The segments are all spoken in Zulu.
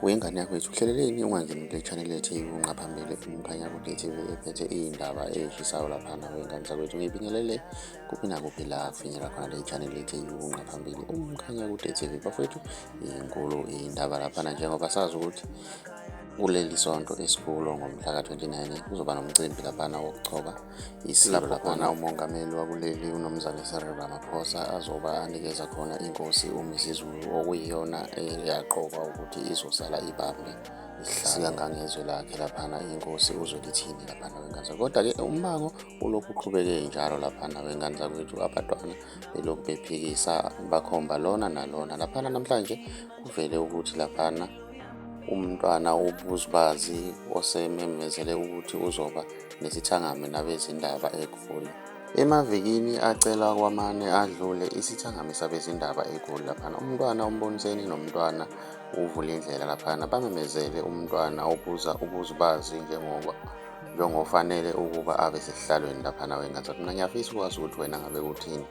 Wengane yakwethu uhleleleni ungangeni kule channel ethi unqa phambili umkhanya kude TV ephethe iy'ndaba ey'shisayo laphana wengane zakwethu ngibingelele kuphi nakuphi la kufinyela khona le channel ethi unqa phambili umkhanya kude TV bafowethu inkulu iy'ndaba laphana njengoba sazi ukuthi kuleli sonto esikulo ngomhla ka-29 kuzoba nomcimbi laphana wokuchoba Isilapho lapho khona umongameli wakuleli uNomzane Cyril Ramaphosa azoba anikeza khona inkosi uMisizulu okuyiyona eyaqokwa ukuthi izosala ibambe ihlala ngangezwe lakhe laphana inkosi uzolithini laphana wengane zakho kodwa-ke umbango ulokhu uqhubeke njalo laphana wengane zakwethu abantwana belokhu bephikisa bakhomba lona nalona laphana namhlanje kuvele ukuthi laphana umntwana ubuzibazi osememezele ukuthi uzoba nesithangami nabezindaba eGoli. Emavikini acela kwamane adlule isithangami sabezindaba eGoli laphana umntwana uMboniseni nomntwana uvule indlela laphana bamemezele umntwana obuza ubuzibazi njengoba njengofanele ukuba abe sesihlalweni laphana wengathi mina ngiyafisa ukwazi ukuthi wena ngabe uthini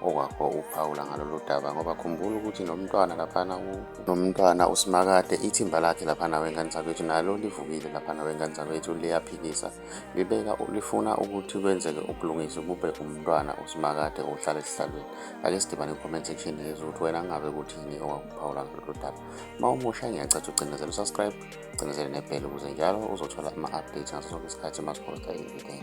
okwakho ukuphawula ngalolu daba ngoba khumbula ukuthi nomntwana laphana nomntwana usimakade ithimba lakhe laphana wengane zakwethu nalo livukile laphana wengane zakwethu liyaphikisa libeka lifuna ukuthi kwenzeke ubulungisi kube umntwana usimakade ohlala esihlalweni ake sidibane comment section yezwe ukuthi wena ngabe kuthini okwakuphawula ngalolu daba uma umusha ngiyacatha ucinezela usubscribe ucinezele nebhele ukuze njalo uzothola ama-update ngaso sonke isikhathi uma siphosta ivideo